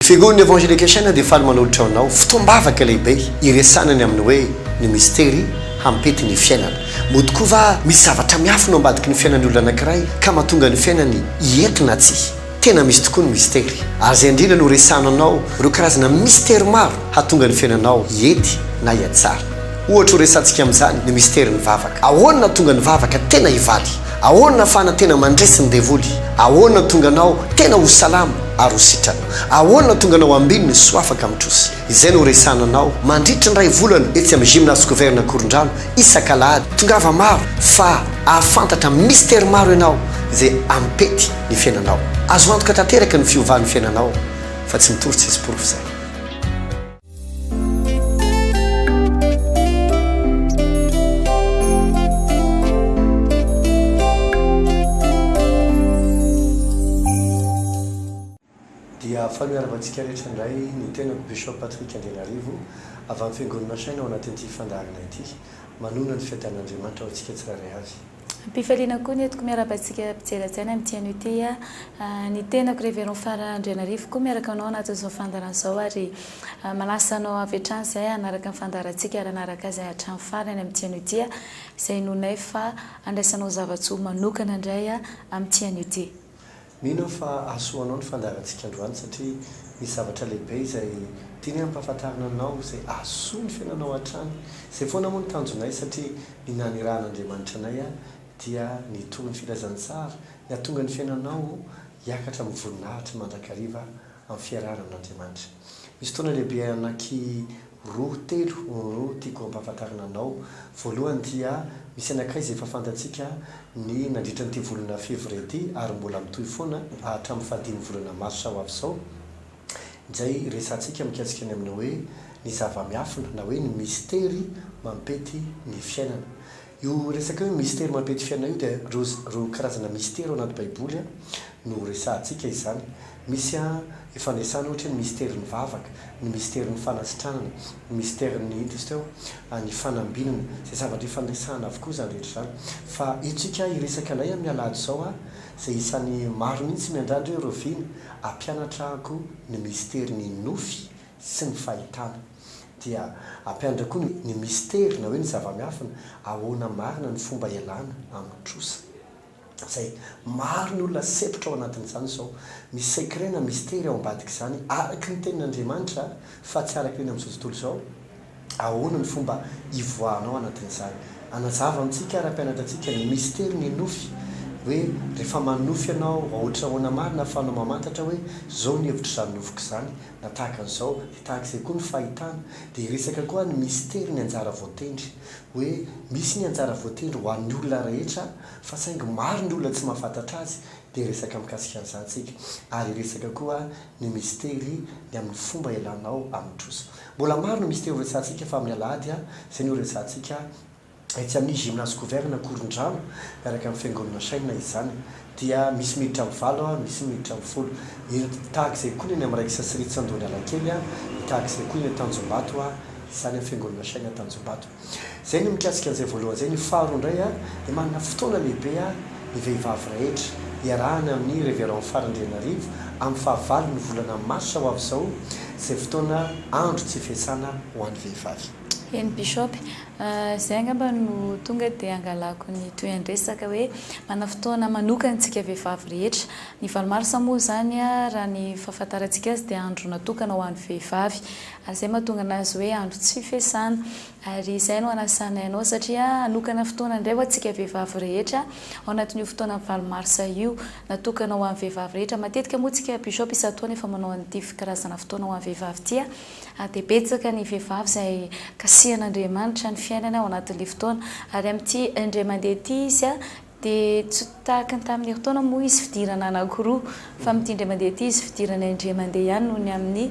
Figon'ny Evangelication dia faly manolotra ho anao fotoam-bavaka lehibe hiresahana ny amin'ny hoe ny mistery hampety ny fiainana. Moa tokoa va misy zavatra miafina ao ambadiky ny fiainan'ny olona anankiray ka mahatonga ny fiainany hiety na tsia? Tena misy tokoa ny mistery, ary izay indrindra no resahana anao ireo karazana mistery maro hahatonga ny fiainanao hiety na hihatsara. Ohatra ho resahantsika amin'izany ny misterin'ny vavaka. Ahoana no hahatonga ny vavaka tena hivaly? Ahoana fa na tena mandresy ny devoly? Ahoana tonga anao tena ho salama ary ho sitrana? Ahoana tonga anao ambininy soa afaka mitrosy? Izay no horesahana anao mandritry ny iray volana etsy amin'ny Gymnase Scovern Ankorondrano isak'alahady. Tongava maro fa ahafantatra mistery maro ianao izay hampety ny fiainanao. Azo antoka tanteraka ny fiovan'ny fiainanao fa tsy mitory tsisy porofo izany. Dia faly miarahaba antsika rehetra indray ny tenako Bishop Patrick Andrianarivo avy amin'ny Fiangonana Saina ao anatin'ity fandaharana ity, manonona ny fiadanan'Andriamanitra ho antsika tsirairay avy. Ampifaliana koa ny entiko miarahaba antsika mpijery hajaina amin'ity anio ity a! Ny tenako Révérend Phare Andrianarivo koa miaraka anao anatin'izao fandaharana izao ary manasa anao avy hatrany izay hanaraka ny fandaharantsika ary hanaraka azy hatrany farany amin'ity anio ity a! izay inoanay fa handraisanao zava-tsoa manokana indray amin'ity anio ity. Mino aho fa hahasoanao ny fandaharantsika androany satria misy zavatra lehibe izay tianay hampahafantarina anao izay hahasoa ny fiainanao hatrany. Izay foana moa ny tanjonay satria ny nanirahan'Andriamanitra anay dia ny hitory ny filazantsara, ny hahatonga ny fiainanao hiakatra amin'ny voninahitry mandrakariva amin'ny fiarahana amin'Andriamanitra. Misy fotoana lehibe anaky. Roa, telo, oh, tiako hampahafantarina anao. Voalohany dia, misy anankiray izay efa fantatsika ny nandritra an'ity volana février ity, ary mbola mitohy foana hatramin'ny fahadimy volana marsa ho avy izao, izay resahantsika mikasika ny amin'ny hoe ny zava-miafina na hoe ny mistery mampety ny fiainana. Io resaka hoe mistery mampety fiainana io dia ireo karazana mistery ao anaty baiboly no resahantsika izany. Misy ifandraisana ohatra hoe ny misterin'ny vavaka, ny misterin'ny fanasitranana, ny misterin'ny inona izy teo, ny fanambinana. Izay zavatra ifandraisana avokoa izany rehetra izany. Fa eto isika hiresaka indray amin'ny alahady izao izay isan'ny maro mihitsy miandrandra hoe Rovina hampianatra ahy koa ny misterin'ny nofy sy ny fahitana. Dia ampiandry koa ny ny mistery na hoe ny zava-miafina, ahoana marina ny fomba ialana amin'ny trosa. Izay, maro ny olona sempotra ao anatin'izany izao. Misy secret na mistery ao ambadik'izany, araky ny tenin'Andriamanitra fa tsy araky ny amin'izao tontolo izao. Ahoana ny fomba hivoahana ao anatin'izany. Hanazava amintsika ary hampianatra antsika ny mistery ny nofy, hoe rehefa manofy ianao, raha ohatra ahoana marina ahafahanao mamantatra hoe izao ny hevitr'izany nofiko izany, Na tahaka an'izao, dia tahaka izay koa ny fahitana, dia resaka koa ny mistery ny anjara voatendry. Hoe misy ny anjara voatendry ho an'ny olona rehetra, fa saingy maro ny olona tsy mahafantatra azy, dia hiresaka mikasika an'izany isika. Ary hiresaka koa ny mistery ny amin'ny fomba hialanao amin'ny trosa. Mbola maro ny mistery horesahantsika fa amin'ny alahady izay no hiresahantsika. Etsy amin'ny Gymnase Couvert-ny Ankorondrano, miaraka amin'ny Fiangonana Shina izany, dia misy miditra amin'ny valo, misy miditra amin'ny folo. Ireto, tahaka izay koa ny eny amin'ny Rex Sri Tsandoanalakely, tahaka izay koa ny eny Tanjombato, izany amin'ny Fiangonana Shina Tanjombato. Izay ny mikasika an'izay voalohany izay. Ny faharoa indray, dia manana fotoana lehibe ny vehivavy rehetra, iarahana amin'ny Révérend Fary Andrianarivo, amin'ny fahavalon'ny volana marsa ho avy izao, izay fotoana andro tsy fiasana ho an'ny vehivavy. Eny Bishop, izay angamba no tonga dia angalako ny tohian-dresaka hoe manana fotoana manokana isika vehivavy rehetra. Ny valo marsa moa izany raha ny fahafantarantsika azy dia andro natokana ho an'ny vehivavy ary izay mahatonga anazy hoe andro tsy fihesana ary izay no anasanay anao satria hanokana fotoana indray ho antsika vehivavy rehetra ao anatin'io fotoanan'ny valo marsa io natokana ho an'ny vehivavy rehetra. Matetika moa isika Bishop isan-taona efa manao an'ity karazana fotoana ho an'ny vehivavy ity. dia betsaka ny vehivavy izay kasihan'Andriamanitra ny fiainany ao anatin'ilay fotoana, ary amin'ity indray mandeha ity izy dia tsy tahaka ny tamin'ny herintaona moa izy fidirana anankiroa, fa amin'ity indray mandeha ity izy fidirana indray mandeha ihany noho ny amin'ny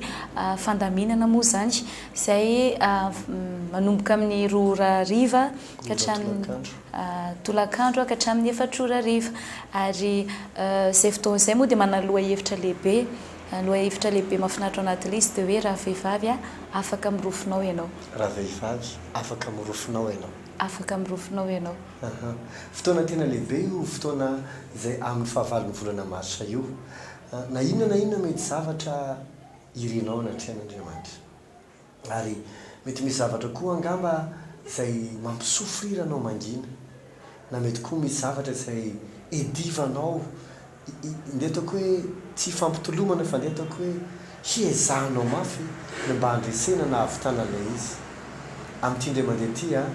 fandaminana moa izany izay manomboka amin'ny roa ora hariva ka hatramin'ny tolakandro ka hatramin'ny efatra ora hariva, ary izay fotoana izay moa dia manaloha hevitra lehibe. Lohahevitra lehibe mahafinaritra ao anaty lisy dia hoe raha vehivavy aho, afaka mirofinao ianao. Raha vehivavy, afaka mirofinao ianao. Afaka mirofinao ianao. Aha. Fotoana tena lehibe io fotoana izay amin'ny fahavalon'ny volana marsa io. Na inona na inona mety zavatra irinao anatrehan'Andriamanitra. Ary mety misy zavatra koa angamba izay mampi-souffrir anao mangina. Na mety koa misy zavatra izay iadivanao, ndeha ataoko hoe tsy ifampitolomana fa ndeha ataoko hoe hiezahanao mafy ny mba handresena na hahavitana an'ilay izy. Amin'ity indray mandeha ity an,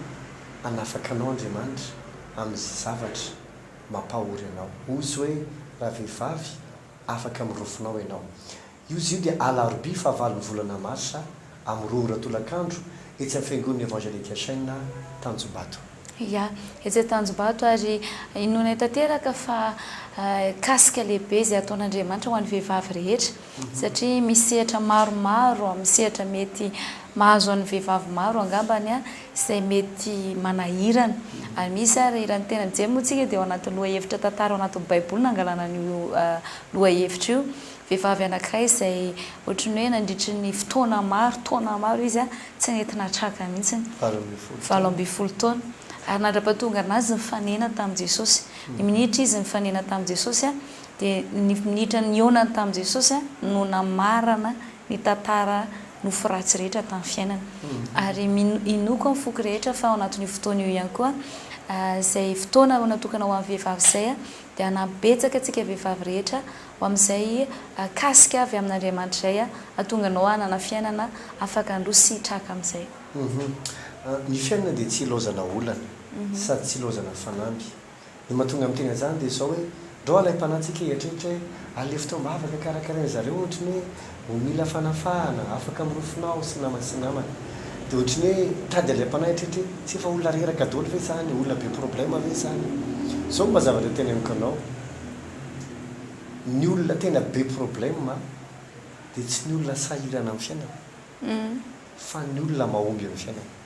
hanafaka anao Andriamanitra amin'izay zavatra mampahory anao. Hoy Izy hoe, Ravehivavy, afaka mirofonao ianao. Io izy io dia alarobia fahavalon'ny volana marsa amin'ny roa ora tolakandro etsy amin'ny Fiangonan'ny Evangelique Chen Tanjombato. Ia, etsy Antanjombato ary inoanay tanteraka fa kasika lehibe izay ataon'Andriamanitra ho an'ny vehivavy rehetra satria misy sehatra maromaro, misy sehatra mety mahazo an'ny vehivavy maro angambany izay mety manahirana ary misy ary raha ny tena mijery moa isika dia ao anatin'ny lohahevitra tantara ao anatin'ny baiboly nangalana an'io lohahevitra io Vehivavy anankiray izay ohatran'ny hoe nandritry ny fotoana maro, taona maro izy tsy nety nahatraka mihitsy ny valo ambin'ny folo taona. Ary nandra-pahatongana azy ny fanenany tamin'i Jesosy. Ny minitra izy nifanena tamin'i Jesosy, dia ny minitra nihaonany tamin'i Jesosy no namarana ny tantara nofo ratsy rehetra tamin'ny fiainany. Ary mino inoako amin'ny foko rehetra fa ao anatin'io fotoana io ihany koa, izay fotoana natokana ho an'ny vehivavy izay, dia hanampy betsaka antsika vehivavy rehetra, Ho amin'izay kasika avy amin'Andriamanitra izay hahatonga anao hanana fiainana afaka handroso sy hitraka amin'izay. Ny fiainana dia tsy ilaozana olana sady tsy ilaozana fanamby. Ny mahatonga ny tena zany dia izao hoe, ndrao alaim-panahy tsika hieritreritra hoe, alefo teo am-bavaka karakarain-dry zareo ohatry ny hoe ho mila fanafahana, afaka mirofona aho sy namana sy namana. Dia ohatry ny hoe tady alaim-panahy hieritreritra hoe, tsy efa olona reraka daholo ve izany, olona be problème ve izany. Izao no mba zavatra teneniko anao. ny olona tena be problème dia tsy ny olona sahirana amin'ny fiainana fa ny olona mahomby amin'ny fiainana.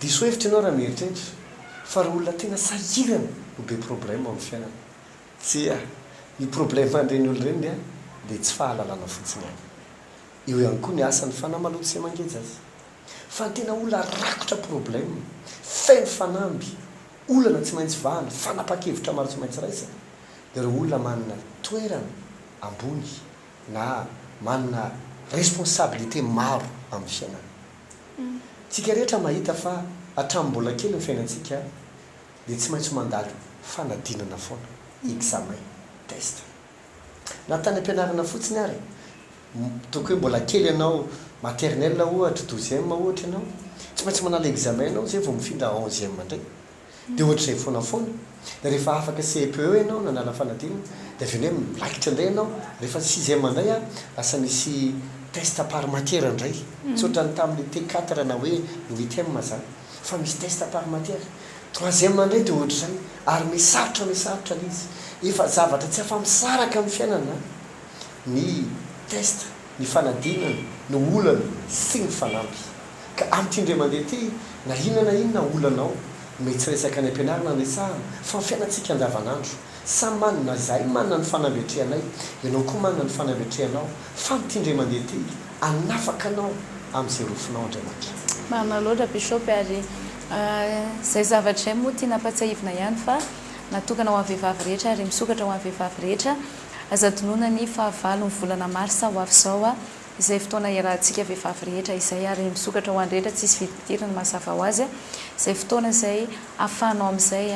Diso hevitra ianao raha mieritreritra fa ireo olona tena sahirana no be problème amin'ny fiainana. Tsia, ny problème an'ireny olona ireny dia tsy fahalalana fotsiny ihany. Eo ihany koa ny asany fa na maloto sy mangeja aza. Fa ny tena olona rakotra problème, feno fanamby, Olana tsy maintsy vahana, fanapan-kevitra maro tsy maintsy raisina, dia ireo olona manana toerana ambony na manana responsabilité maro amin'ny fiainana. Tsika rehetra mahita fa hatramin'ny mbola kely ny fiainantsika dia tsy maintsy mandalo fanadinana foana, examen, test. Na tany ampianarana fotsiny ary, toky hoe mbola kely ianao, maternelle ohatra, douzième ohatra ianao, tsy maintsy manala examen ianao izay vao mifindra onzième indray. Dia ohatr'izay foana foana. Dia rehefa afaka CEPE ianao nanala fanadinana, dia avy eo indray miraikitra indray ianao, rehefa sixième indray ary lasa misy test par matière indray. Tsy ohatran'ny tamin'ny T4 na hoe UITM izany. Fa misy test par matière. Troisième indray dia ohatr'izay. Ary misarotra misarotra ilay izy. Efa zavatra tsy afa-misaraka amin'ny fiainana ny test, ny fanadinana, ny olana sy ny fanamby. Ka amin'ity indray mandeha ity, na inona na inona olana ao, mety tsy resaka any am-pianarana no resahana, fa ny fiainantsika andavanandro. Samy manana izahay manana ny fanambetrehanay, ianao koa manana ny fanambetrehanao, fa ny tiandray mandeha ty hanafaka anao amin'izay rofinao Andriamanitra. Marina loatra Bishop ary izay zavatra izay moa tiana ampatsiahivina ihany fa natokana ho an'ny vehivavy rehetra ary misokatra ho an'ny vehivavy rehetra, aza adinoina ny fahavalon'ny volana marsa ho avy izao izay fotoana hiarahantsika vehivavy rehetra izay ary misokatra ho an'ny rehetra tsisy vidim-pidirana mazava ho azy izay fotoana izay afahanao amin'izay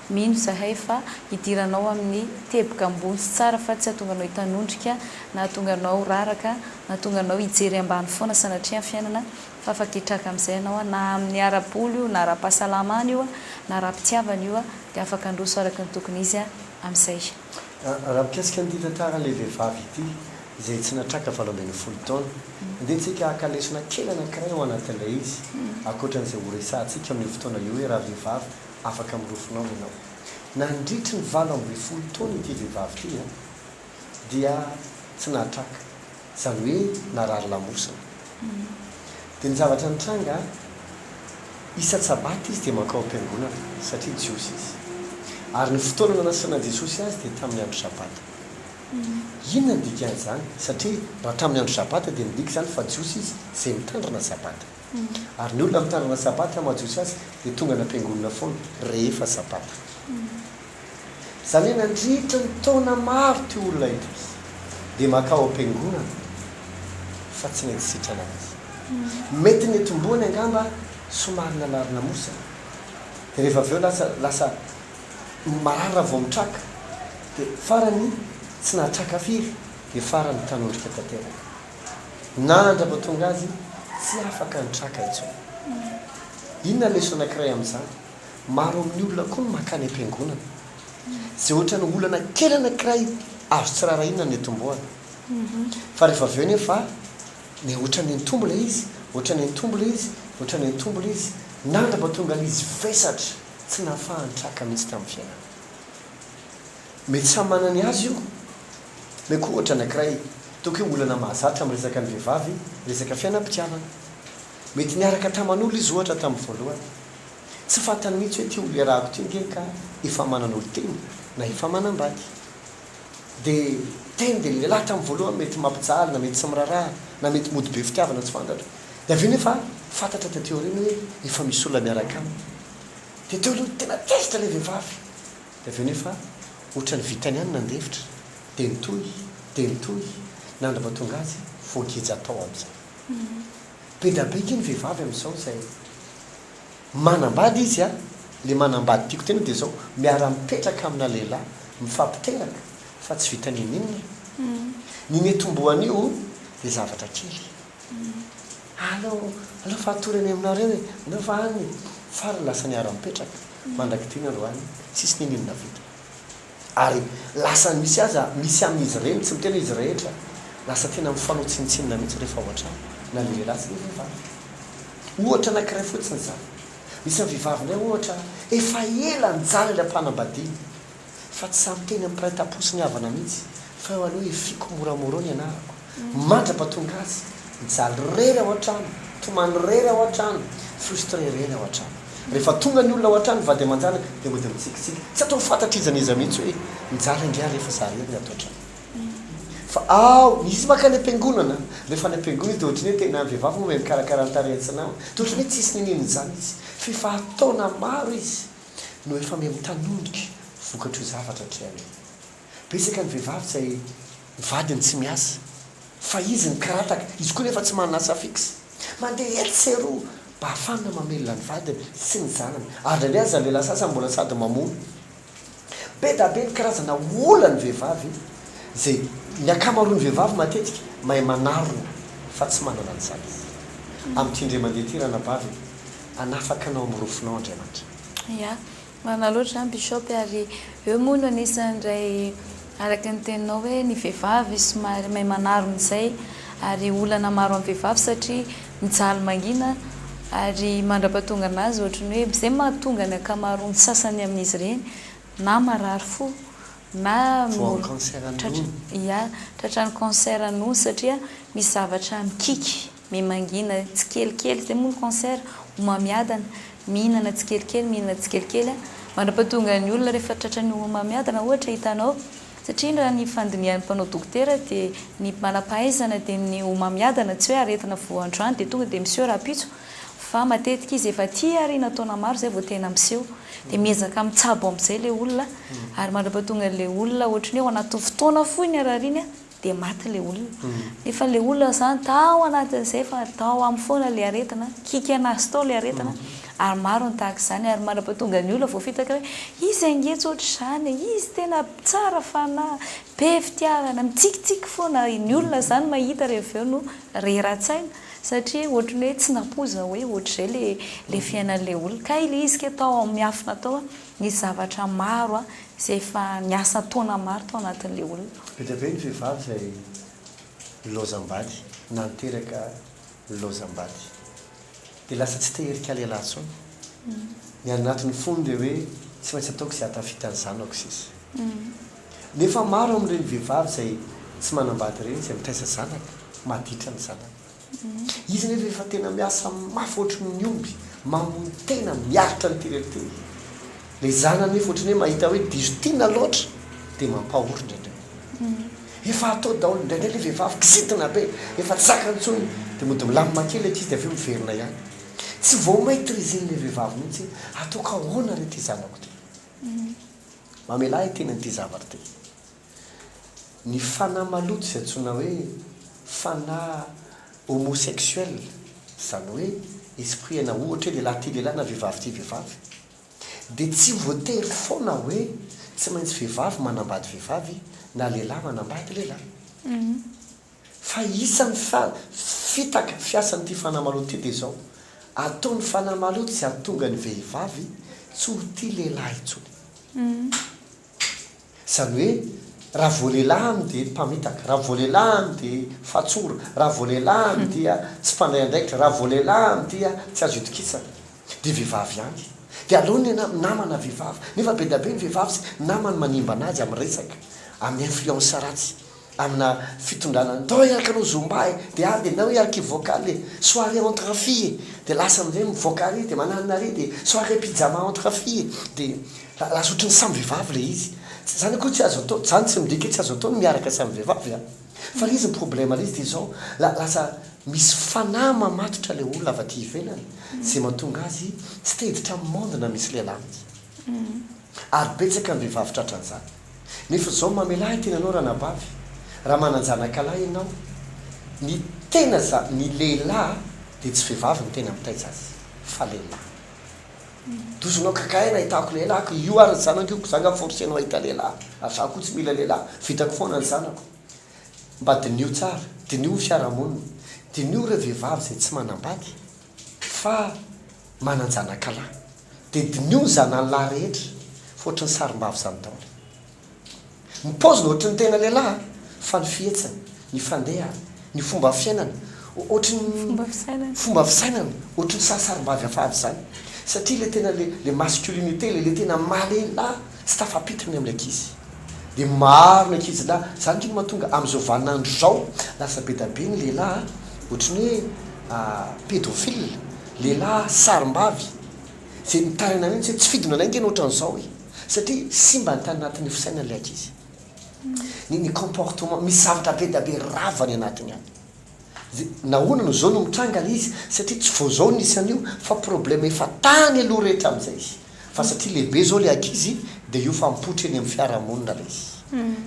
Mino izahay fa hidiranao amin'ny teboka ambony sy tsara fa tsy hahatonga anao hitanondrika na hahatonga anao ho raraka na hahatonga anao hijery ambany foana sanatria ny fiainana fa afa-kitraka amin'izay ianao na amin'ny ara-bola io na ara-pahasalamana io na ara-pitiavana io dia afaka handroso araka ny tokony izy amin'izay. Raha mikasika an'ity tantaran'ilay vehivavy ity izay tsy natraka valo ambin'ny folo taona, andehantsika haka lesona kely anankiray ao anatin'ilay izy ankoatra an'izay horesahantsika amin'io fotoana io hoe rahavehivavy Afaka mirofonao ianao. Nandritry ny valo ambin'ny folo taona ity vehivavy ity dia tsy nahatraka, izany hoe narary lamosina. Dia ny zavatra nitranga, isan-tSabaty izy dia mankao am-piangonana, satria Jiosy izy. Ary ny fotoana nanasianan'i Jesosy azy dia tamin'ny andro Sabata. Inona no dikan'izany? Satria raha tamin'ny andro Sabata dia midika izany fa Jiosy izy izay mitandrina Sabata. Ary ny olona mitanana sabata na mahajotsy azy dia tonga any am-piangonana foana rehefa sabata. Izany hoe nandritra ny taona maro ity olona ity dia mankao am-piangonana fa tsy nety sitrana azy. Mety ny nitomboany angamba somary nanary namosana dia rehefa avy eo lasa lasa marary raha vao mitraka dia farany tsy nahatraka firy dia farany tanondrika tanteraka. na handrapatonga azy tsy afaka ny traka intsony. Inona leçon anakiray amin'izany? Maro amin'ny olona koa no makany am-piangonana. Izay ohatran'ny olana kely anakiray azo tsy rarahina ny nitomboany. Fa rehefa avy eo anefa dia ohatran'ny nitombo ilay izy, ohatran'ny nitombo ilay izy, ohatran'ny nitombo ilay izy, nandrapatonga ilay izy vesatra tsy nahafaha-nitraka mihitsy tamin'ny fiainany. Mety samy manana ny azy io. Meko ohatra anankiray, toa ke olana mahazatra amin'ny resaka ny vehivavy, resaka fiainam-pitiavana. Mety niaraka taman'olo izy ohatra tamin'ny voalohany. Tsy fantany mihitsy hoe ty olierahako ty nge ka efa manana olon-teny na efa manambady. De teny de lehilahy tamin'ny voalohany mety mampijaly na mety tsy miraraha na mety mody be fitiavana tsy fantatra. De avy eo nefa fantatra taty aoriana hoe efa misy olona miaraka aminy. De teo aloha tena tezitra ilay vehivavy. Dia avy eo nefa otrany vitany ihany nandefitra dia nitohy dia nitohy nandra vao tonga azy voageja tao amizay. Be da be nge ny vehivavy amizao izay manambady izy a, le manambady tiako tena dia zao miara mipetraka amina lehilahy mifampiteraka fa tsy vita ninininona e. Ny mety homboan'io dia zavatra kely. Aleo, aleo fa hatory any aminareo e! Aleo fa any e! Faly lasa niara-nipetraka mandrak'ity ny androany, tsisy ninininona vita. Ary lasa misy aza, misy amin'izy ireny, tsy miteny hoe izy rehetra, lasa tena mifanao tsinontsinona mihitsy rehefa ao an-trano, na ny lehilahy sy ny vehivavy. Ohatra anankiray fotsiny izany. Misy an'ny vehivavy indray ohatra, efa ela nijaly ilay mpanambadiany, Fa tsy samy teny ampiray tapotsy ny havana mihitsy fa eo aloha hifiako moramorao ny anarako mandrapa tonga azy mijaly rery ao antrano tomany rery ao antrano frustré rery ao antrano rehefa tonga ny olona ao antrano vady aman-janaka dia mody mitsikitsiky tsy atao fantatry iza n'iza mihitsy hoe mijaly angaha rehefa za rery ny ato antrano fa ao izy maka any am-piangonana rehefa any am-piangonana izy dia ohatry ny hoe tena vehivavy moa ve mikarakara ny tarehiny sy ny namany dia ohatry ny hoe tsisy niniany izany izy f'efa taona maro izy no efa miha mitanondrika vokatr'io zavatra hatrany io. Betsaka ny vehivavy izay ny vadiny tsy miasa, fa izy no kirataka, izy koa nefa tsy manana asa fixe. Mandeha etsy sy eroa mba hahafana mamelona ny vadiny sy ny zanany, ary indraindray aza ny lehilahy sasany mbola sady mamono. Be da be ny karazana olan'ny vehivavy, izay ny ankamaroan'ny vehivavy matetika mahay manarona fa tsy manana ny sazy. Amin'ity indray mandeha ity ranabavy e! Hanafaka anao amin'ny rofinao Andriamanitra. Ya, marina loatra izany Bishop e, ary eo moa no anisany indray araka ny teninao hoe ny vehivavy somary mahay manarona izay ary olana maro amin'ny vehivavy satria mijaly mangina ary mandrapahatongana azy ohatry ny hoe izay mahatonga ny ankamaroan'ny sasany amin'izy ireny na marary fo na Voan'ny cancer an'ny nono. Ya, tratran'ny cancer an'ny nono satria misy zavatra mikiky. Me mangina tsikelikely, zay moa ny cancer, homamiadana, mihinana tsikelikely, mihinana tsikelikely a, mandrapatonga ny olona rehefa tratran'ny homamiadana ohatra hitanao, satria raha ny fandinihan'ny mpanao dokotera dia ny manampahaizana dia ny homamiadana tsy hoe aretina vao androany dia tonga dia miseho rahampitso fa matetika izy efa aty aoriana taona maro izay vao tena miseho dia miezaka mitsabo amin'izay ilay olona ary mandrapatonga ilay olona ohatry ny hoe ao anatin'ny fotoana fohy ny harariany a, dia maty ilay olona. Nefa ilay olona izany tao anatin'izay fa tao aminy foana ilay aretina, kikana azy tao ilay aretina, ary maro ny tahaka izany, ary manapatonga ny olona vao fitaka hoe izy ange tsy ohatr'izany e, izy tena tsara fanahy, be fitiavana, mitsikitsiky foana, ny olona izany mahita ary avy eo no rera-tsaina satria ohatry ny hoe tsy nampoiza hoe ohatr'izay ilay ilay fiainan'ilay olona, kay ilay izy kay tao amin'ny miafina tao Nisy zavatra maro izay efa niasa taona maro tao anatin'ilay olona. Be dia be ny vehivavy izay nilaozam-bady na niteraka nilaozam-bady dia lasa tsy te hirika lehilahy intsony. Ny any anatin'ny fony dia hoe tsy maintsy ataoko izay hahatafita ny zanako sisa. Nefa maro amin'ireny vehivavy izay tsy manam-bady ireny izay mitaiza zanaka, maditra ny zanaka. Izy anefa efa tena miasa mafy ohatry ny omby mamono tena miaritra an'ity rerity ity. Ilay zanany anefa ohatry ny hoe mahita hoe diso tiana loatra dia mampahory indraindray. Efa atao daholo, indraindray ilay vehivavy kizitina be, efa tsy zakany intsony dia mody milamina kely ilay ankizy dia avy eo miverina ihany. Tsy vao maitrizen'ilay vehivavy mihitsy hoe ataoko ahoana re ity zanako ity. Mamelà i tenany ity zavatra ity. Ny fanahy maloto izay antsoina hoe fanahy homosexuel, izany hoe esprit aina ohatra hoe lehilahy tia lehilahy na vehivavy tia vehivavy, dia tsy voatery foana hoe tsy maintsy vehivavy manambady vehivavy na lehilahy manambady lehilahy. Fa isan'ny fitaka fiasan'ity fanahy maloto ity dia izao, ataon'ny fanahy maloto izay hahatonga ny vehivavy tsy ho tia lehilahy intsony. Izany hoe raha vao lelahany dia mpamitaka, raha vao lelahany dia fatsora, raha vao lelahany dia tsy mpandray andraikitra, raha vao lelahany dia tsy azo itokisana. Dia vehivavy ihany. Dia aleo ny anah namana vehivavy. Nefa be dia be ny vehivavy sy namany manimba an'azy amin'ny resaka, amin'ny influence ratsy. Amina fitondrana ny Toy araka anao zomba e de ary de na hoe archive vocal e soirée entre en fille e de lasa amizay mivoaka ary de mananina ary de soirée pyjama entre en fille e de lasa otriny samy vevavy le izy zany akory tsy azo atao zany tsy midika hoe tsy azo atao ny miaraka samy vevavy a fa le izy ny problème le izy de zao lasa misy fanahy mamatotra le olona avy aty ivelany ze matonga azy tsy teditra am monde na misy lelah mitsy ary betsaka ny vevavy tratra anzany. Nefa izao mamelà i tenanao ranabavy raha manan-janakalahy ianao, ny tena za, ny lehilahy dia tsy vehivavy no tena mitaitra azy fa lehilahy. Dozonao kakaay nahitako lehilahiko, io ary ny zanako io ko za nga forcenao hahita lehilahy ary za ko tsy mila lehilahy, vitako foana ny zanako. Mba diniho tsara, diniho ny fiarahamonina, diniho ireo vehivavy izay tsy manambady fa manan-janakalahy dia diniho ny zanany lahy rehetra fa ohatry ny sarimbavy izany daholo ny paoziny ohatry ny tena lehilahy fa ny fihetsiny, ny fandehany, ny fomba fiainany ohatry ny fomba fisainany ohatry ny sarisarimbavy afady izany satria ilay tena ilay masculinité ilay tena maha lehilahy. Tsy tafapitry ny amin'ny ankizy dia maro ny ankizilahy, izany kino mahatonga amin'izao vaninandro izao lasa be dia be ny lehilahy ohatry ny hoe pédophile, lehilahy sarimbavy izay mitaraina mihitsy hoe tsy fidinana aingana ohatran'ny izao e! satria simba ny tany anatin'ny fisainany ilay ankizy, ny ny comportement, misy zavatra be dia be rava any anatiny any. Dia nahoana no zao no mitranga le izy satria tsy vao zao nisy an'io fa problème efa tany aloha rehetra amin'izay izy fa satria lehibe zao le ankizy dia io fa mipoitra eny amin'ny fiarahamonina le izy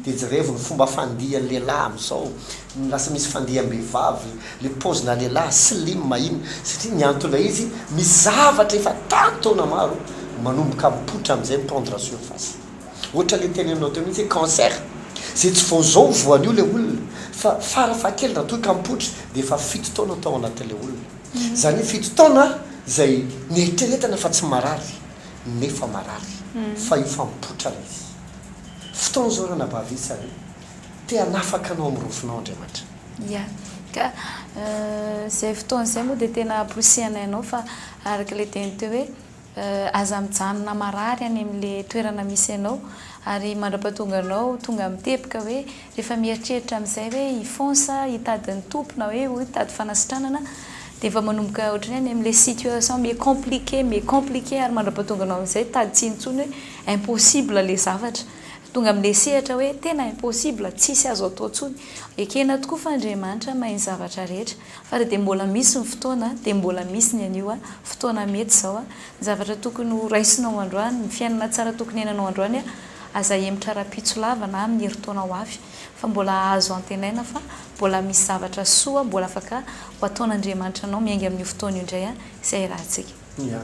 dia jerevy ny fomba fandihan'ny lehilahy amin'izao no lasa misy fandiam-behivavy le paozina lehilahy slim iny satria ny anton'ilay izy misy zavatra efa tany taona maro manomboka mipoitra amin'izay mi-prendre surface. Ohatra le tenenao teo mihitsy hoe cancer zay tsy vao zao voan'io le olona fa fara fahakeliny raha toa ka mipoitra dia efa fito taona tao anatin'ilay olona. Izany hoe fito taona izay nieritreretana fa tsy marary nefa marary fa io fa mipoitra le izy. Fotoana zao ranabavy isa hoe te hanafaka anao amin'ny rofinao Andriamanitra. Ia. Ka izay fotoana izay moa dia tena ampirosihanay anao fa araka ilay teny teo hoe Aza mijanona marary any amin'le toerana misy anao ary mandrapatonga anao tonga mitebika hoe rehefa mieritreritra amin'izay hoe hifon sa hitady ny Tompo na hoe hitady fanasitranana dia efa manomboka ohatran'ny hoe any amin'le situation mi compliquer mi compliquer ary mandrapatonga anao amin'izay hitady tsy intsony hoe impossible le zavatra tonga amin'le sehatra hoe tena impossible tsisy azo atao intsony ekena tokoa fa Andriamanitra mahay ny zavatra rehetra Fa raha dia mbola misy ny fotoana, dia mbola misy ny anio, fotoana mety izao, ny zavatra tokony ho raisinao androany, ny fiainana tsara tokony hiainanao androany, aza ahemotra rahampitso lava na amin'ny herintaona ho avy, fa mbola azo antenaina fa mbola misy zavatra soa mbola afaka ho ataon'Andriamanitra anao miainga amin'io fotoana io indray izay hiarahantsika. Ia.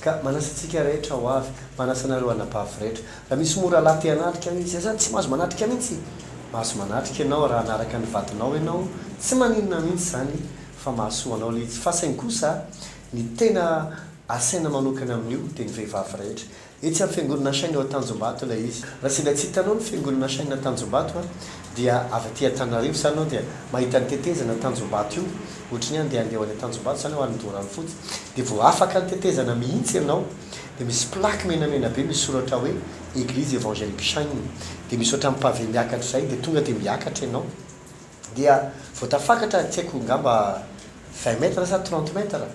Ka manasa antsika rehetra ho avy, manasa anareo anabavy rehetra. Raha misy moa rahalahy te hanatrika anio, izay izany tsy mahazo manatrika mihitsy. Mahazo manatrika ianao raha hanaraka ny vadinao ianao, tsy maninona mihitsy izany fa mahasoa anao ilay izy. Fa saingy kosa, ny tena asaina manokana amin'io dia ny vehivavy rehetra. Etsy amin'ny Fiangonana Shine ao Tanjombato ilay izy. Raha sendra tsy hitanao ny Fiangonana Shine Tanjombato an, dia avy aty Antananarivo izany ianao dia mahita ny tetezana Tanjombato io, ohatry ny hoe andeha handeha ho any Antanjombato izany ho any Doranfotsy, dia vao afaka ny tetezana mihitsy ianao dia misy plaque menamena be misy soratra hoe Eglise Evangelique Shine, dia misy ohatran'ny pavé miakatra izay dia tonga dia miakatra ianao. Dia vao tafakatra tsy haiko angamba vingt mètres sa trente mètres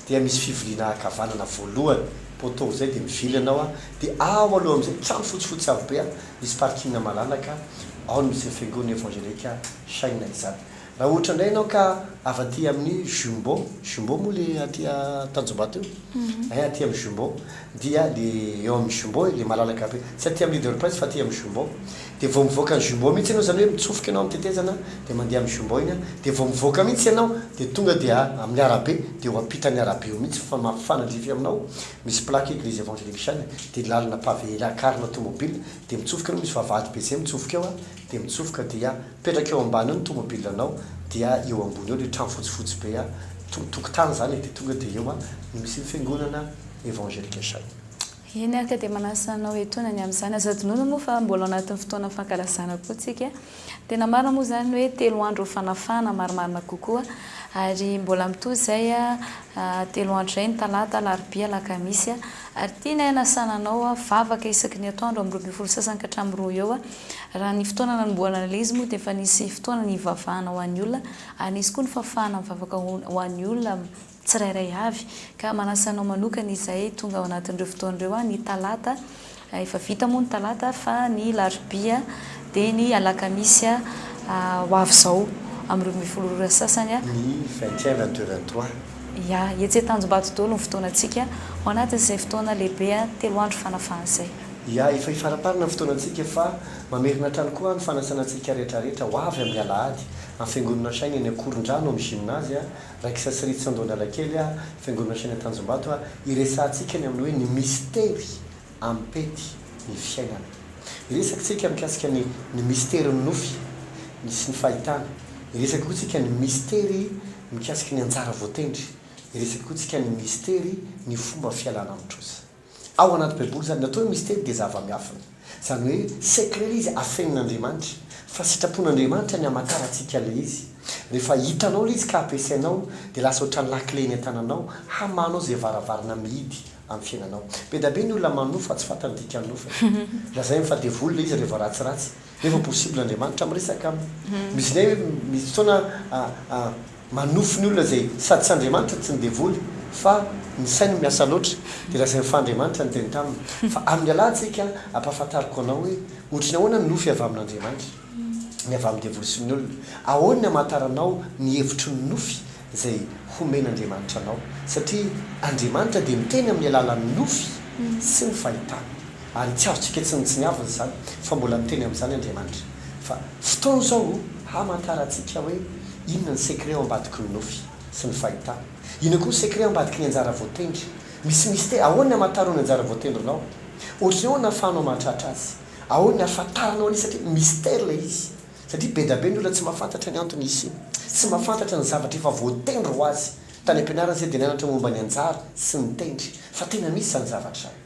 dia misy fivoriana ankavanana voalohany poteau zay dia mivily ianao a, dia ao aloha amizay trano fotsifotsy avo be a, misy parking malalaka ao no misy fiangonana evangelique Shina izany. Raha ohatra indray ianao ka avy aty aminy Jumbo, Jumbo moa le aty Tanjombato io? Ein aty aminy Jumbo dia le eo aminy Jumbo ilay malalaka be, tsy aty aminy Leader Price fa aty aminy Jumbo Dia vao mivoaka ny jumbo mihitsy ianao, izany hoe mitsofoka ianao amin'ny tetezana dia mandeha amin'ny jumbo iny, dia vao mivoaka mihitsy ianao dia tonga dia amin'ny arabe, dia eo ampitan'ny arabe eo mihitsy fa mifanandrify aminao misy plaque Eglise Evangelical dia lalana pavé lakarina tomobile dia mitsofoka ianao misy vavahady be zay mitsofoka eo dia mitsofoka dia mipetraka eo ambany eo ny tomobile anao dia eo ambony eo ilay trano fotsifotsy be tokotany izany e, dia tonga dia eo no misy ny fiangonana Evangelical. Eny ary ka dia manasa anao etoana ny amin'izany. Aza adinoina moa fa mbola ao anatin'ny fotoana fankalazana koa tsika. Tena marina moa izany hoe telo andro ny fanafahana marimarina kokoa ary mbola mitohy izay telo andro izay ny talata, alarobia, alakamisy ary tianay hanasana anao vavaka isaky ny atoandro amin'ny roa ambin'ny folo sasany ka hatramin'ny roa eo. Raha ny fotoana nanombohana ilay izy moa dia efa nisy fotoana nivavahana ho an'ny olona ary nisy koa ny fafahana mivavaka ho an'ny olona tsirairay avy, ka manasa anao manokana izay tonga ao anatin'ireo fotoana ireo an, ny talata, efa vita moa ny talata, fa ny alarobia dia ny alakamisy ho avy izao amin'ny roa ambin'ny folo ora sasany an, Ny vingt et un, vingt deux, vingt trois. Ya, etsy Antanjombato daholo ny fotoanantsika, ao anatin'izay fotoana lehibe an, telo andro fanafahana izay. Ya, efa hifaramparana ny fotoanantsika fa mamerina hatrany koa an ny fanasana antsika rehetrarehetra ho avy amin'ny alahady, amin'ny Fiangonana Shine eny Ankorondrano, amin'ny Gymnase an, Raikisa sy Ritsy Andohan-dRalakely a, Fiangonana Shina Tanjombato a, hiresahantsika ny amin'ny hoe ny mistery ampety ny fiainana. Hiresaka tsika mikasika ny ny mistery ny nofy ny sy ny fahitana. Hiresaka koa tsika ny mistery mikasika ny anjara voatendry. Hiresaka koa tsika ny mistery ny fomba fialana amin'ny trosa. Ao anaty baiboly izany atao hoe mistery dia zava-miafina. Izany hoe secret ilay izy afenin'Andriamanitra. Fa sitrapon'Andriamanitra ny hamakarantsika ilay izy. Rehefa hitanao ilay izy ka ampiasainao dia lasa ohatran'ny lakile eny an-tananao hamahanao izay varavarana mihidy amin'ny fiainanao. Be da be ny olona manofa fa tsy fantany ny dikan'ny nofany. Lazainy fa devoly ilay izy raha vao ratsiratsy. Efa possible Andriamanitra miresaka aminy. Misy izay misy fotoana manofy ny olona izay sady tsy Andriamanitra tsy ny devoly fa ny sainy no miasa loatra dia lazainy fa Andriamanitra niteny taminy. Fa amin'ny lalantsika ampahafantariko anao hoe ohatry ny ahoana ny nofy avy amin'Andriamanitra, ny avy amin'ny devoly sy ny olona. Ahoana ny amantaranao ny hevitry ny nofy izay homen'Andriamanitra anao, satria Andriamanitra dia miteny amin'ny alalan'ny nofy sy ny fahitana, ary tsy azontsika tsy nitsiniavina izany fa mbola miteny amin'izany Andriamanitra, fa fotoana izao hamantarantsika hoe inona ny secret ao ambadiky ny nofy sy ny fahitana, inona koa ny secret ao ambadiky ny anjara voatendry, misy mystère, ahoana ny hamantaranao ny anjara voatendrinao, ohatran'ny ahoana ahafahanao mahatratra azy, ahoana ny ahafantaranao an'izy satria mystère ilay izy. Satria be dia be ny olona tsy mahafantatra ny antony hisiany. Tsy mahafantatra ny zavatra efa voatendry ho azy. Tany am-pianarana isika dia nianatra momba ny anjara sy ny tendry. Fa tena misy izany zavatra izany.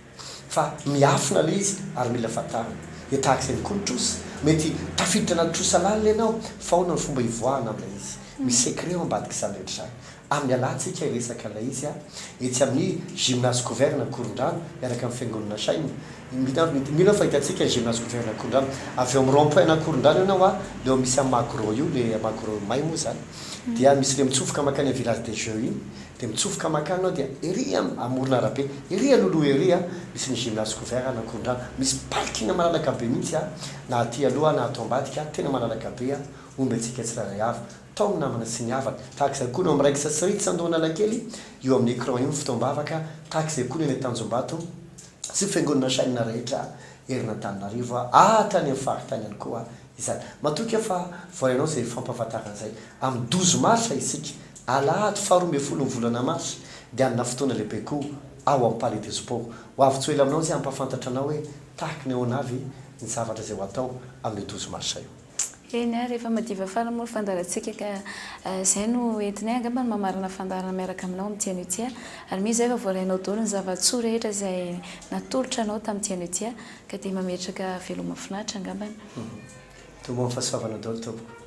Fa miafina ilay izy ary mila fantarina. Dia tahaka izay ihany koa ny trosa. Mety tafiditra anaty trosa lalina ianao fa ahoana ny fomba hivoahana amin'ilay izy? Misy secret ao ambadik'izany rehetra izany. Amin'ny alantsika hiresaka ilay izy a! Etsy amin'ny Gymnase Couverne Ankorondrano miaraka amin'ny Fiangonana Shine. Mino aho fa hitantsika ny Gymnase Couverne Ankorondrano. Avy eo amin'ny rond point an'Ankorondrano eo ianao a, ilay misy an'i Magro io, ilay Magro may moa izany. Dia misy ilay mitsofoka mankany amin'ny Village des Jeux iny. Dia mitsofoka mankany ianao dia ery amoron'arabe, ery alohaloha ery a, misy ny Gymnase Couverne Ankorondrano. Misy parking malalaka be mihitsy a, na aty aloha na ato ambadika, tena malalaka be a, omby antsika tsirairay avy. Tao ny namana sy ny havana. Tahaka izay koa no amin'ny raikitra sy reny tsandohan'Analakely, io amin'ny écran io ny fotoam-bavaka, tahaka izay koa ny eny Antanjombato sy fiangonana chaine rehetra eran'Antananarivo, ary tany amin'ny faritany ihany koa izany. Matoky aho fa vao ianao izay fampahafantarana izay. Amin'ny douze mars isika, alahady faha roa ambin'ny folo ny volana mars, dia hanana fotoana lehibe koa ao amin'ny Palais des Sports. Ho avy tsy ho ela aminao izay hampahafantatra anao hoe tahaka ny ahoana avy ny zavatra izay ho atao amin'io douze mars io. Eny a, rehefa madiva farany moa ny fandaharantsika ka izay no entinay angamba ny mamarana fandaharana miaraka aminao amin'ny Dia anio tia ary mino izay fa voarainao daholo ny zava-tsoa rehetra izay natolotra anao tamin'ny Dia anio tia ka dia mametraka veloma finaritra angambany. Toa mahafasoavana daholo tompoko.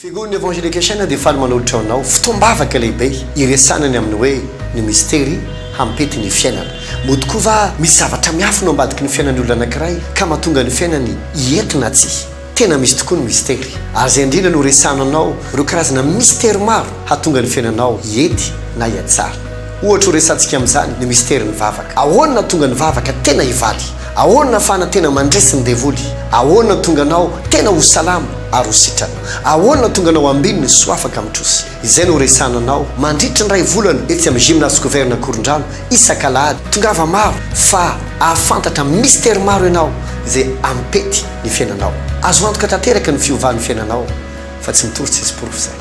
Figon'ny Evangelication dia faly manolotra ho anao fotoam-bavaka lehibe hiresahana ny amin'ny hoe ny mistery hampety ny fiainana. Moa tokoa va misy zavatra miafina ao ambadiky ny fiainan'ny olona anankiray ka mahatonga ny fiainany hiety na tsia? Tena misy tokoa ny mistery, ary izay indrindra no resahana anao ireo karazana mistery maro hahatonga ny fiainanao hiety na hihatsara. Ohatra ho resahantsika amin'izany ny misterin'ny vavaka. Ahoana no hahatonga ny vavaka tena hivaly? Ahoana fana tena mandresy ny devoly? Ahoana tonga anao tena ho salama ary ho sitrana? Ahoana tonga anao ambininy soa afaka mitrosy? Izay no horesahana anao mandritry ny iray volana etsy amin'ny Gymnase Scovern Ankorondrano isak'alahady. Tongava maro fa ahafantatra mistery maro ianao izay hampety ny fiainanao. Azo antoka tanteraka ny fiovan'ny fiainanao fa tsy mitory tsisy porofo izany.